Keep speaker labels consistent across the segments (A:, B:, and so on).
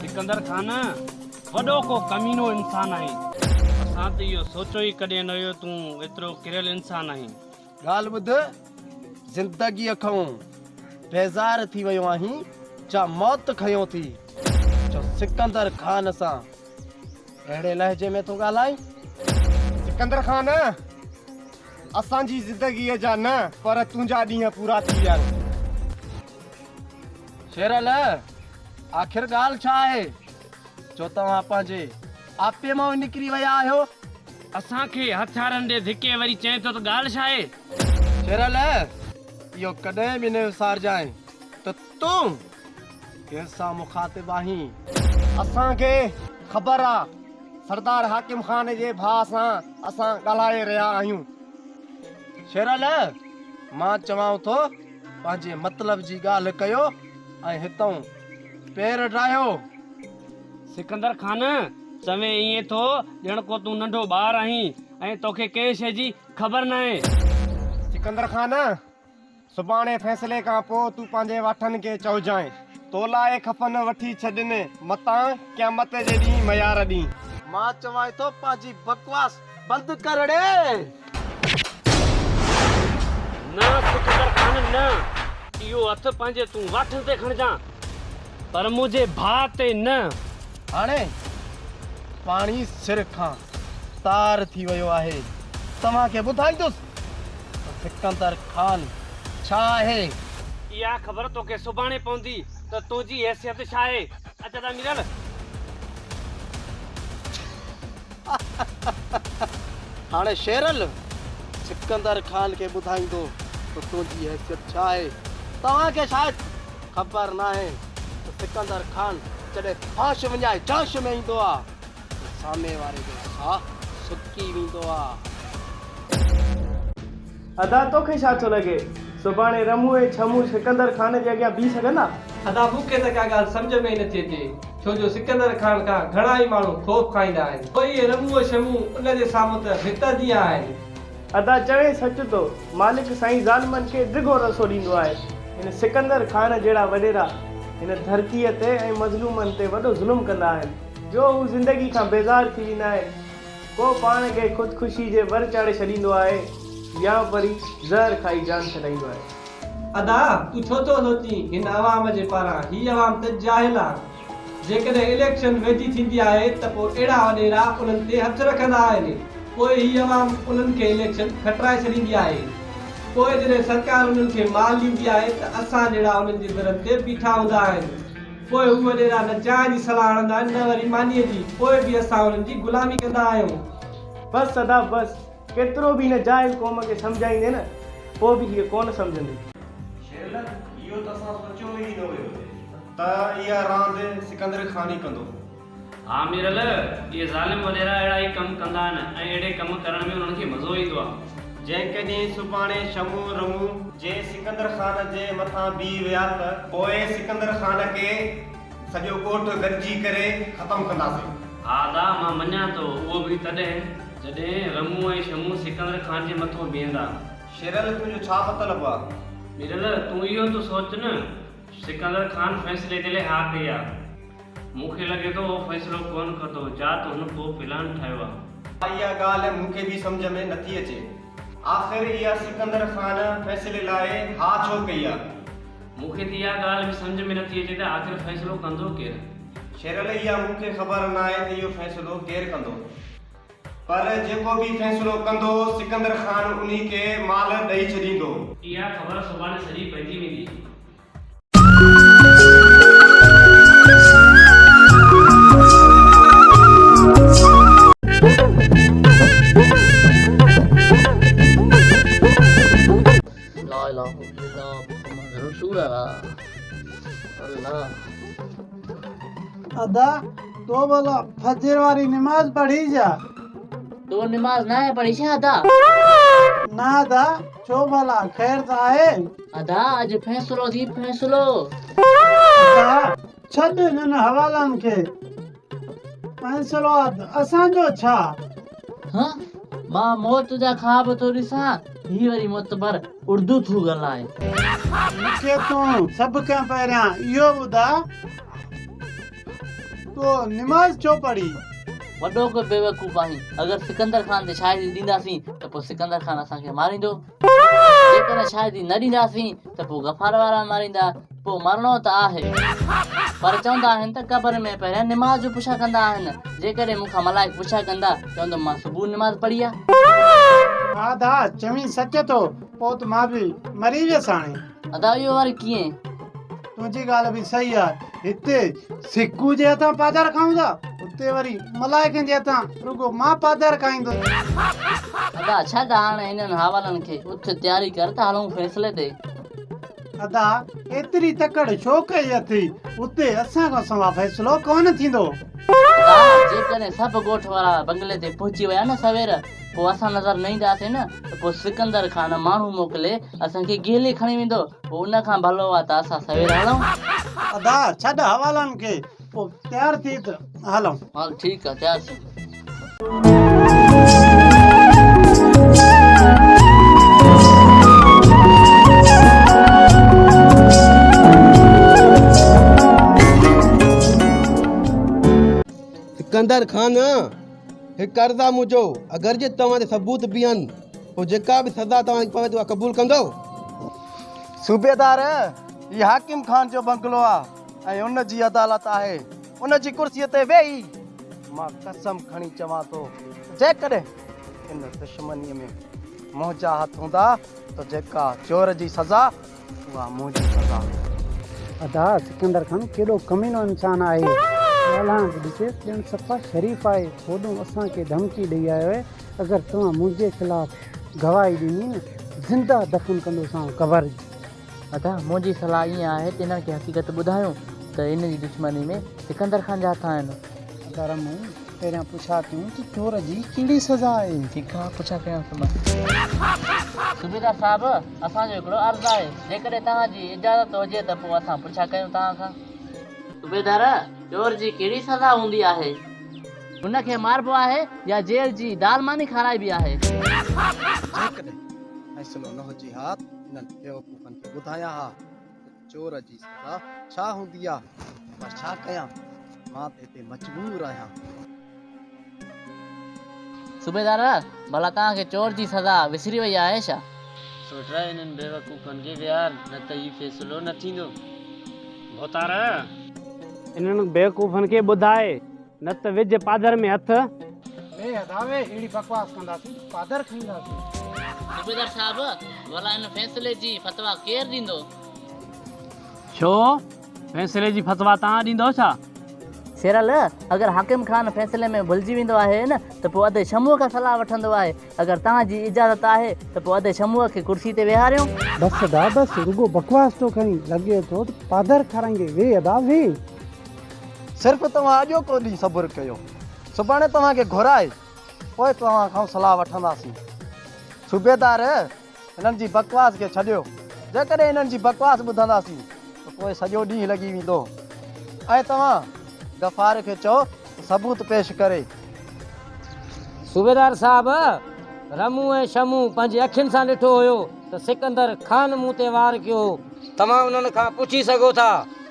A: سڪندر خان وڏو ڪو ڪمينو انسان آهين. اسان ته اهو سوچيو ئي ڪڏهن نه هيو تون ايترو ڪريل انسان آهين. ڳالهه ٻڌ
B: زندگيء کئون بيزار ٿي ويو آهين جا موت کنيو ٿي جو سڪندر خان سان. اهڙي لهجي ۾ ٿو ڳالهائين؟ سڪندر
C: خان! اسان جي زندگيء جا نه پر تنهنجا ڏينهن پورا ٿي ويا آهن.
B: شيرل! آخر ڳالهه ڇا آهي جو توهان پنهنجي آپي مان نڪري ويا آهيو؟ اسان کي
A: هٿيارن ڏي ڌڪي وري چئين ٿو ته ڳالهه ڇا آهي؟ شيرل!
B: اهو ڪڏهن به نه وسارجانء ته تون ڪنهن سان مخاطب آهين؟ اسان کي
C: خبر آ سردار حاڪم خان جي ڀاء سان اسان ڳالهائي رهيا آهيون.
B: شيرعليٰ مان چوان ٿو پنهنجي مطلب جي ڳالهه ڪيو ۽ هتئون پير ڊاهيو.
A: سڪندر خان چوين ائين ٿو ڄڻ ڪو تون ننڍو ٻار آهين ۽ توکي ڪنهن شيء جي خبر ناهي. سڪندر خان
C: سڀاڻي فيصلي کان پوء تون پنهنجي واٺن کي چئجانء، تو لاء خفن وٺي ڇڏين، متان قيامت جي ڏينهن ميار ڏينهن. مان چوانء ٿو
B: پنهنجي بڪواس بند ڪر ڙي.
A: نه ڪجهه ڪر خانه نه. اهو هٿ پنهنجي تون واٺن تي کڻجان، پر منهنجي ڀاء تي نه. هاڻي
B: پاڻي سر کان تار ٿي ويو آهي، توهان کي ٻڌائيندس. سڪندر خان، ڇا آهي؟ اها خبر
A: توکي سڀاڻي پوندي ته تنهنجي حيثيت ڇا آهي. اچ ته ميرل!
B: هاڻي شيرل، سڪندر خان کي ٻڌائيندو ته تنهنجي حيثيت ڇا آهي. توهان کي شايد خبر ناهي ته سڪندر خان جڏهن هوش وڃائي جوش ۾ ايندو آهي. سامي واري جو ساھ سڪي ويندو آ.
D: ادا توکي ڇا ٿو لڳي سڀاڻي رمون ۽ ڇمون سڪندر خان جي اڳيان بيھي سگهندا؟ ادا مون کي ته
E: ڪا ڳالهه سمجهه ۾ ئي نٿي اچي ڇو جو سڪندر خان کان گهڻا ئي ماڻهو خوف کائيندا آهن پوء اهي رمون ڇمون ان جي سامهون ته ڀت جيان آهن. ادا چوين
D: سچ ٿو مالڪ سائين ظالمن کي ڊگهو رسو ڏيندو آهي هن سڪندر خان جهڙا وڏيرا هن ڌرتي تي ۽ مظلومن تي وڏو ظلم ڪندا آهن. جو هو زندگي کان بيزار ٿي ويندا آهن. ڪو پاڻ کي خودڪشي جي ور چاڙهي ڇڏيندو آهي يا وري زهر کائي جان ڇڏائيندو آهي. ادا
E: تون ڇو ٿو سوچين هن عوام جي پاران هي عوام ته جاهل آ جيڪڏهن اليڪشن ويجهي ٿيندي آهي ته پوء اهڙا وڏيرا انهن تي هٿ رکندا آهن پوء هي عوام انهن کي اليڪشن کٽرائي ڇڏيندي آهي پوء جڏهن سرڪار انهن کي مال ڏيندي آهي ته اسان جهڙا انهن جي درن تي بيٺا هوندا آهن. پوء هو وڏيرا نه چانهه جي صلاح هڻندا آهن نه وري مانيء جي، پوء به اسان انهن جي غلامي ڪندا آهيون. بس سدا
D: بس، ڪيترو به هن جاهل قوم کي سمجهائيندين نه، پوء به هيء ڪونه سمجهندي. شيرلڪ،
C: اهو ته اسان سوچيو ئي نه هيو ته اها راند سڪندر خان ئي ڪندو. ها ميرل،
A: اهي ظالم وڏيرا اهڙا ئي ڪم ڪندا آهن ۽ اهڙي ڪم ڪرڻ ۾ انهن کي مزو ايندو آهي. جيڪڏهن سڀاڻي
C: شمو رمو جي سڪندر خان جي مٿان بيهي ويا ته. پوء سڪندر خان کي سڄو ڳوٺ گڏجي ڪري ختم ڪنداسين. ها ادا، مان
A: مڃان ٿو، اهو به تڏهن جڏهن رمو ۽ شمو سڪندر خان جي مٿو بيهندا. شيرل، تنهنجو
C: ڇا مطلب آهي؟ ميرل، تون
A: اهو ته سوچ نه سڪندر خان فيصلي جي لاء ها ڪئي آ. مون کي لڳي ٿو اهو فيصلو ڪونه کتو جا ته هن ڪو پلان ٺاهيو آ. اها ڳالهه مون کي به
C: سمجهه ۾ نٿي اچي. آخر اها سڪندر خان فيصلي لاء ها ڇو ڪئي آ. مون کي ته اها
A: ڳالهه به سمجهه ۾ نٿي اچي ته آخر فيصلو ڪندو ڪير. شيرل اها
C: مون کي خبر ناهي ته اهو فيصلو ڪير ڪندو. پر جيڪو به فيصلو ڪندو، سڪندر خان انهي کي مال ڏئي ڇڏيندو. اها خبر
A: سڀاڻي سڄي پئجي ويندي.
F: لاء لاکون فدا محمد رسول الله ادا تو ڀلا فجر واري نماز پڙهي جا. تو
G: نماز ناهي پڙهي ڇا ادا؟ نه
F: ادا ڇو ڀلا خير ته آهي. ادا اڄ
G: فيصلو ٿي فيصلو. ادا
F: ڇڏ انهن حوالن کي فيصلو اسان جو ڇا. هه
G: مان موت جا خواب ٿو ڏسان هي وري معتبر اردو ٿو ڳالهائي. مون
F: کي تون سڀ کان پهريان اهو ٻڌاء تو نماز ڇو پڙهي؟ وڏو ڪو
G: بيوقوف آهين اگر سڪندر خان تي شاعري ڏينداسين ته پوء سڪندر خان اسان کي ماريندو. جيڪڏهن شاهدي نه ڏينداسين ته پوء غفار وارا ماريندا، پوء مرڻو ته آهي. پر چوندا آهن ته قبر ۾ پهريان نماز جو پڇا ڪندا آهن. جيڪڏهن مون کان ملائڪ پڇا ڪندا، چوندم مان صبح نماز پڙهي آ. آد آ،
F: چوين سچ ٿو، پوء ته مان به مري ويس هاڻي. ادا اهو وري
G: ڪيئن؟ تنهنجي
F: ڳالهه به صحيح آهي هتي سڪو جي هٿان پاڌر کائون ٿا اتي وري ملائڪن جي هٿان رڳو مان پاڌر کائيندو
G: ادا ڇڏ هاڻ انهن حوالن کي اٿ تياري ڪر ته هلون فيصلي تي ادا
F: ايتري تڪڙ ڇو ڪئي اٿي اتي اسان کان سوا فيصلو ڪونه ٿيندو ادا
G: جيڪڏهن سڀ ڳوٺ وارا بنگلي تي پهچي ويا نه سوير پوء اسان نظر نه اينداسين نه ته پوء سڪندر خان ماڻهو موڪلي اسان کي گيلي کڻي ويندو، پوء ان کان ڀلو آ ته اسان سوير هلون. ادا
F: ڇڏ حوالن کي پوء تيار ٿي ته هلون. هل ٺيڪ آ تيار
G: ٿي. سڪندر
B: خان! هڪ عرض آ منهنجو اگر جي توهان تي ثبوت به آهن پوء جيڪا به سزا توهان کي پوي ٿي اها قبول ڪندؤ؟ صوبيدار، هي حاڪم خان جو بنگلو آ ۽ ان جي عدالت آهي. ان جي ڪرسيء تي ويهي مان قسم کڻي چوان ٿو ته جيڪڏهن ان دشمنيء ۾ منهنجا هٿ هوندا ته جيڪا چور جي سزا اها مون جي سزا هئي.
F: ادا سڪندر خان ڪيڏو ڪمينو انسان آهي ڳالهائڻ به ڏسي ڄڻ صفا شريف آهي هوڏون اسان کي ڌمڪي ڏئي آيو آهي اگر توهان منهنجي خلاف گواهي ڏني نه زنده دفن ڪندوسانو قبر جي. ادا منهنجي
G: صلاح ائين آهي ته انهن کي حقيقت ٻڌايون ته ان جي دشمني ۾ سڪندر خان جا هٿ آهن. گهر مون
F: پهريان پڇا ڪيون ته چور جي ڪهڙي سزا آهي. ٺيڪ آهي پڇا ڪيان
G: ٿو مان. صوبيدار صاحب اسان جو هڪڙو عرض آهي جيڪڏهن توهان جي اجازت هجي ته پوء اسان پڇا ڪيون توهان کان. صوبيدار چور جي ڪهڙي سزا هوندي آهي. هن کي ماربو آهي يا جيل جي دال ماني کارائبي آهي. جيڪڏهن
B: فيصلو نه هجي ها ته انهن بيوقوفن کي ٻڌايان ها ته. چور جي سزا ڇا هوندي آ پر ڇا ڪيان مان ته هتي مجبور آهيان.
G: صوبيدار، ڀلا توهان کي چور جي سزا وسري وئي آهي ڇا؟ سوٽرا، انهن
A: بيوقوفن کي ويهار نه ته هي فيصلو نه ٿيندو. ڀوتار!
D: انهن بيوقوفن کي ٻڌاء. نه ته وجهه پادر ۾ هٿ. بي ادا وي اهڙي بڪواس ڪنداسين ته پادر کائينداسين.
F: صوبيدار
G: صاحب ڀلا هن فيصلي جي فتويٰ ڪير ڏيندو؟
D: ڇو فيصلي جي فتويٰ توهان ڏيندؤ ڇا؟ شيرل
G: اگر حاڪم خان فيصلي ۾ ڀلجي ويندو آهي نه ته پوء ادي شموء کان صلاح وٺندو آهي اگر توهان جي اجازت آهي ته پوء ادي شموء کي ڪرسي تي ويهاريون. بس ادا بس
F: رڳو بڪواس ٿو ڪرين لڳي ٿو ته پادر کارائيندي وي ادا وي
B: صرف توهان اڄوڪو ڏينهن صبر ڪيو، سڀاڻي توهان کي گهرائي پوء توهان کان صلاح وٺنداسين. صوبيدار، هنن جي بڪواس کي ڇڏيو، جيڪڏهن هنن جي بڪواس ٻڌنداسين ته پوء سڄو ڏينهن لڳي ويندو ۽ توهان غفار کي چئو ته ثبوت پيش ڪري. صوبيدار
H: صاحب، رمون ۽ شمون پنهنجي اکين سان ڏٺو هيو ته سڪندر خان مون تي وار ڪيو هو. توهان انهن کان پڇي سگهو ٿا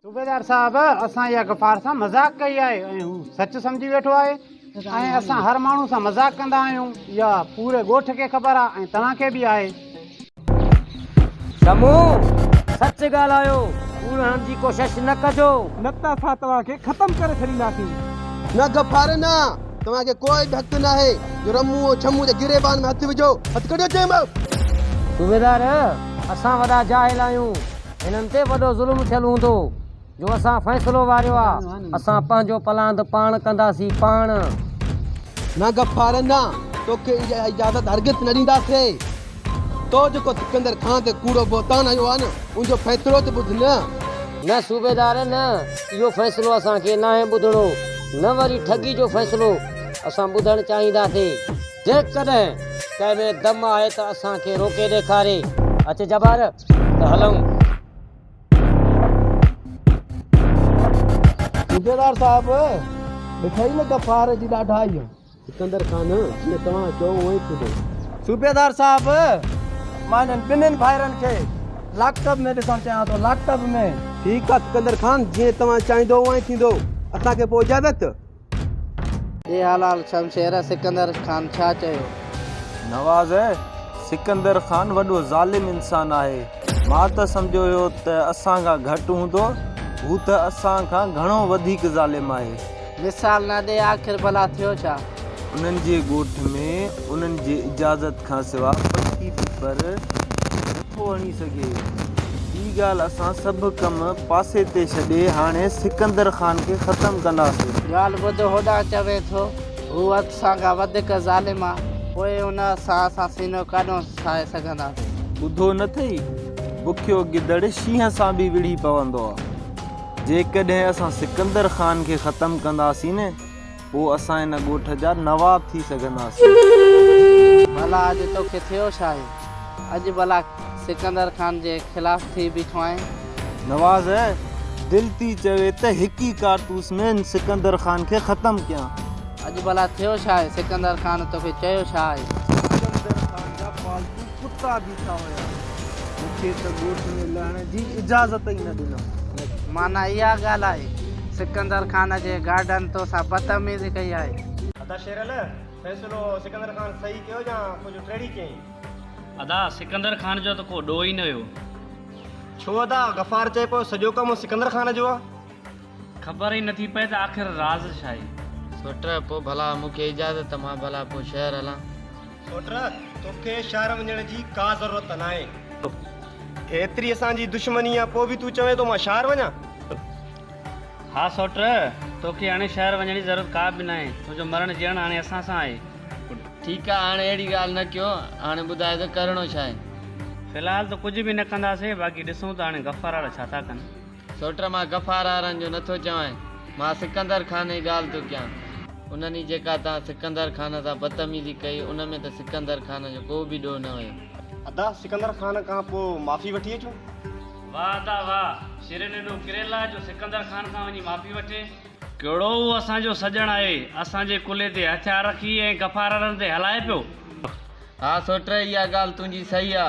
G: صوبيدار
F: صاحب اسان اها غفار سان مذاق ڪئي آهي ۽ هو سچ سمجهي ويٺو آهي ۽ اسان هر ماڻهو سان مذاق ڪندا آهيون اها پوري ڳوٺ کي خبر آهي ۽ توهان کي به آهي
H: شمو سچ ڳالهايو ڪوڙ هڻڻ جي ڪوشش نه ڪجو نه ته اسان توهان
D: کي ختم ڪري ڇڏينداسين. نه غفار
B: نه توهان کي ڪو به حق ناهي جو رمون ۽ شمو جي گريبان ۾ هٿ وجهو هٿ ڪڍيو چيم. صوبيدار
H: اسان وڏا جاهل آهيون. هنن تي وڏو ظلم ٿيل هوندو جو اسان فيصلو واريو آ اسان پنهنجو پلاند پاڻ ڪنداسين پاڻ.
B: نه غفار نه توکي اها اجازت هرگز نه ڏينداسي تو جيڪو سڪندر خان تي ڪوڙو بهتان هنيو آ نه ان جو فيصلو ته ٻڌ نه. نه
H: صوبيدار نه اهو فيصلو اسان کي ناهي ٻڌڻو نه وري ٺڳي جو فيصلو اسان ٻڌڻ چاهينداسي جيڪڏهن ڪنهن ۾ دم آهي ته اسان کي روڪي ڏيکاري. اچ جبار ته هلئون.
B: صوبيدار صاحب! ڏٺئي نه ته پهر جي ڏاڍائيء. سڪندر خان! جيئن توهان چئو اونء ئي ٿيندو. صوبيدار
D: صاحب! مان انهن ٻنهين ڀائرن کي لاڪ ٽب ۾ ڏسڻ چاهيان ٿو، لاڪ ٽب ۾. ٺيڪ آهي سڪندر
B: خان! جيئن توهان چاهيندؤ اونء ئي ٿيندو. اسان کي پوء اجازت.
I: اي حلال شمشيره سڪندر خان ڇا چيو؟ نواز،
J: سڪندر خان وڏو ظالم انسان آهي. مان ته سمجهيو هيو ته اسان کان گهٽ هوندو، هو ته اسان کان گهڻو وڌيڪ ظالم آهي. مثال نه ڏي
I: آخر ڀلا ٿيو ڇا؟ انهن جي
J: ڳوٺ ۾ انهن جي اجازت کان سوا پکي به پر. نٿو هڻي سگهي. هي ڳالهه اسان سڀ ڪم پاسي تي ڇڏي هاڻي سڪندر خان کي ختم ڪنداسين. ڳالهه ٻڌ هوڏا
I: چوي ٿو. هو حد سان ڪا وڌيڪ ظالم آ. پوء ان سان اسان سينو ڪانه ٺاهي سگهنداسين. ٻڌو نه ٿئي.
J: بکيو گدڙ شينهن سان به وڙهي پوندو آ. جيڪڏهن اسان سڪندر خان کي ختم ڪنداسين نه. پوء اسان هن ڳوٺ جا نواب ٿي سگهنداسين.
I: ڀلا اڄ توکي ٿيو ڇا آهي؟ اڄ ڀلا سڪندر خان جي خلاف ٿي بيٺو آهين؟ نواز
J: دل ٿي چوي ته هڪ ئي ڪارتوس ۾ هن سڪندر خان کي ختم ڪيان. اڄ ڀلا ٿيو
I: ڇا آهي؟ سڪندر خان توکي چيو ڇا آهي؟ سڪندر خان
D: جا پالتو ڪتا بيٺا هيا. مون کي ته ڳوٺ ۾ لهڻ جي اجازت ئي نه ڏنو. معنيٰ اها
I: ڳالهه آهي. سڪندر خان جي گارڊن تو سان بدتميزي ڪئي آهي. ادا شيرل
C: فيصلو سڪندر خان صحيح ڪيو يا ڪجهه ٽيڙي ڪيائين. ادا
A: سڪندر خان جو ته ڪو ڏوهه ئي نه هيو. ڇو
C: ادا غفار چئي پيو سڄو ڪم سڪندر خان جو آ. خبر
A: ئي نٿي پئي ته آخر راز ڇا آهي. سوٽر، پوء
G: ڀلا مون کي اجازت ته مان ڀلا پوء شهر هلان. سوٽر،
C: توکي شهر وڃڻ جي ڪا ضرورت ته ناهي. ايتري اسان جي دشمني آهي پوء به تون چوين ٿو مان شهر وڃان.
A: ها سوٽر، توکي هاڻي شهر وڃڻ جي ضرورت ڪا به ناهي. تنهنجو مرڻ جيئڻ هاڻي اسان سان آهي. ٺيڪ آهي
G: هاڻي اهڙي ڳالهه نه ڪيو. هاڻي ٻڌاء ته ڪرڻو ڇا آهي. في الحال ته
A: ڪجهه به نه ڪنداسين باقي ڏسون ته هاڻي غفار واڙا ڇا ٿا ڪن. سوٽر مان غفار
G: آرن جو نه ٿو چوانء، مان سڪندر خان ئي ڳالهه ٿو ڪيان. انهن ئي جيڪا تان سڪندر خان سان بدتميزي ڪئي، ان ۾ ته سڪندر خان جو ڪو به ڏوهه نه هيو. ادا سڪندر
C: خان کان پوء معافي وٺي اچون. واهه ادا
A: واهه، شرين ايڏو ڪريل آ جو سڪندر خان کان وڃي معافي وٺي. ڪهڙو هو اسان جو سڄڻ آهي، اسان جي ڪلهي تي هٿيار رکي ۽ غفار آرن تي هلائي پيو. ها
G: سوٽر اها ڳالهه تنهنجي صحيح آ.